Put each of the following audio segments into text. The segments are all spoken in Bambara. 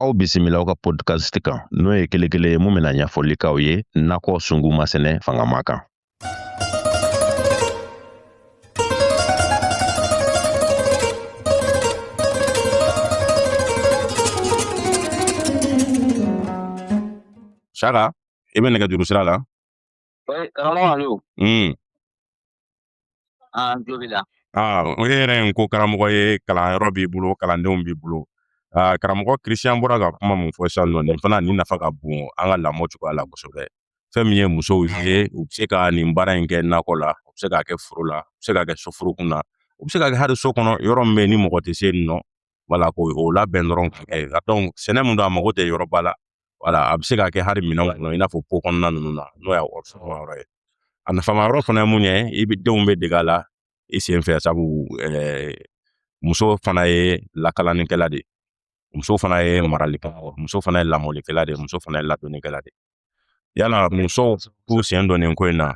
aw bisimila aw ka podcast kan n'o ye kelen kelen ye mun bɛna ɲɛfɔli k'aw ye nakɔ sungu masɛnɛ fangama kan Saka i bɛ nɛgɛjuru sira la karamɔgɔ alo Aa n tulo b'i la. Aa o e yɛrɛ n ko karamɔgɔ ye kalanyɔrɔ b'i bolo kalandenw b'i bolo aa karamɔgɔ Christian bɔra ka kuma mun fɔ sisan nɔ nin fana nin nafa ka bon an ka lamɔ cogoya la kosɛbɛ fɛn min ye musow ye u bɛ se ka nin baara in kɛ nakɔ la u bɛ se k'a kɛ foro la u bɛ se k'a kɛ soforokun na u bɛ se k'a kɛ hali so kɔnɔ yɔrɔ min bɛ yen ni mɔgɔ tɛ se yen nɔ wala k'o labɛn dɔrɔn ka kɛ donc sɛnɛ mun don a mago tɛ yɔrɔba la wala a bɛ se ka kɛ hali minɛn kɔnɔ i n'a fɔ pot kɔnɔna ninnu na n'o y'a yɔrɔ ye a nafama yɔrɔ fana ye mun ye i bɛ denw bɛɛ dege a la i sen fɛ sabu eh, muso fana ye lakalanikɛla de muso fana ye maralikɛla muso fana ye lamɔlikɛla de muso fana ye ladonnikɛla de ye o la musow k'u sen don nin ko in na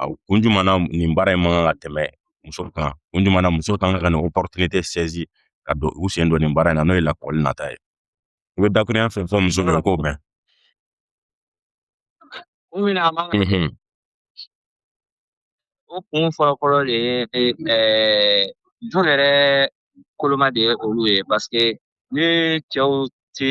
A kun jumɛn na nin baara in man kan ka tɛmɛ muso kan kun jumɛn na muso kan ka nin opportunité saisi ka don u sen don nin baara in na n'o ye lakɔli nata ye i bɛ dakurunɲɛ fɛn fɛn muso bɛɛ k'o mɛn kun min na a man kan mhm. o kun fɔlɔfɔlɔ de ye eh, du yɛrɛ koloma de ye olu ye parce que ni cɛw tɛ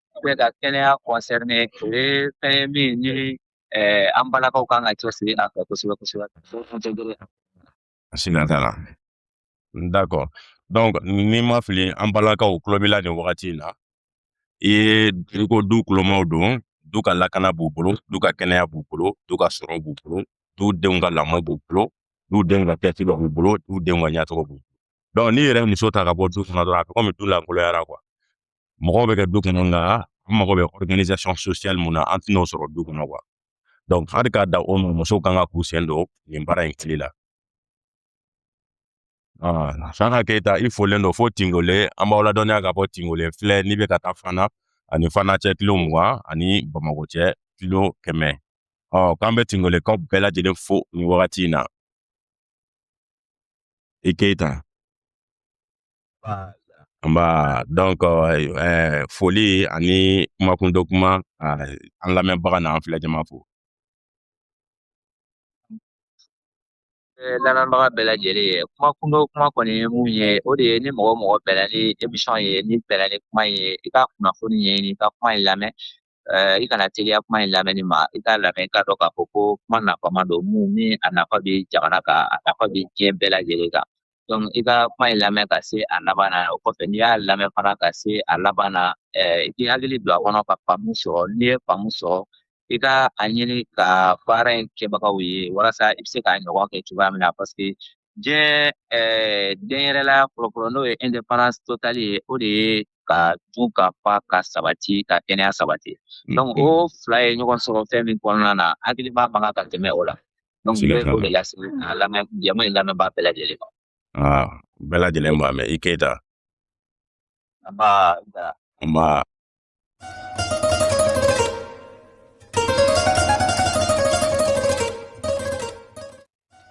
bɛɛ ka kɛnɛya concerné o ye fɛn ye min ni an balakaw kan ka cɛsiri a fɛ kosɛbɛ kosɛbɛ siga t'a la d'accord donc ni n ma fili an balakaw tulo b'i la nin wagati in na i ye i ko du kulomaw don du ka lakana b'u bolo du ka kɛnɛya b'u bolo du ka sɔrɔ b'u bolo du denw ka lamɔ b'u bolo du denw ka ɲɛci b'u bolo du denw ka ɲɛcogo b'u bolo donc n'i yɛrɛ muso ta ka bɔ du kɔnɔ dɔrɔn a bɛ komi du lankoloyara quoi mɔgɔw bɛ kɛ du kɔnɔ nka an mago bɛ organisation sociale mun na an tɛn'o sɔrɔ du kɔnɔ quoi donc hali k'a da o ma musow kan ka k'u sen don nin baara in tile la Saka Keyita i folen don fo Tingole an b'aw ladɔnniya ka bɔ Tingole filɛ n'i bɛ ka taa Fana a ni Fana cɛ kilo mugan a ni Bamakɔ cɛ kilo kɛmɛ ɔ k'an bɛ Tingolekaw bɛɛ lajɛlen fo nin wagati in na i Keyita Bon donc foli ani kumakundo kuma an lamɛnbaga n'an filɛ jama fo lamɛnbaga bɛɛ lajɛlen ye kuma kundo kuma kɔni ye mun ye o de ye ni mɔgɔ o mɔgɔ bɛnna ni émission ye n'i bɛnna ni kuma ye i ka kunnafoni ɲini i ka kuma in lamɛn Eh, i kana teliya kuma in lamɛnni ma i k'a lamɛn i k'a dɔn k'a fɔ ko kuma nafama don mun ni a nafa bɛ jamana kan a nafa bɛ diɲɛ bɛɛ lajɛlen kan donc i ka kuma in lamɛn ka se a laban na o kɔfɛ n'i y'a lamɛn fana ka se a laban na eh, i k'i hakili don a kɔnɔ ka faamu sɔrɔ n'i ye faamu sɔrɔ i ka a ɲini ka baara in kɛbagaw ye walasa i bɛ se k'a ɲɔgɔn kɛ cogoya min na parce que diɲɛ eh, denyɛrɛla fɔlɔfɔlɔ n'o ye indépendance totale ye o de ye ka dun ka fa ka sabati ka kɛnɛya sabati donc o fila ye ɲɔgɔn sɔrɔ fɛn min kɔnɔna na hakilima man kan ka tɛmɛ o la donc n bɛ o de lase a lamɛn jama in lamɛnbaa bɛɛ lajɛlen ma ah, bɛɛ lajɛlen b'a mɛn i Keyita nba nba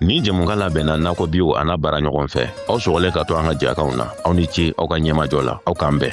Nin jɛmukan labɛnna Nakɔ Bio an'a baaraɲɔgɔn fɛ aw sɔgɔlen ka to an ka jɛkanw na aw ni ce aw ka ɲɛmajɔ la aw k'an bɛn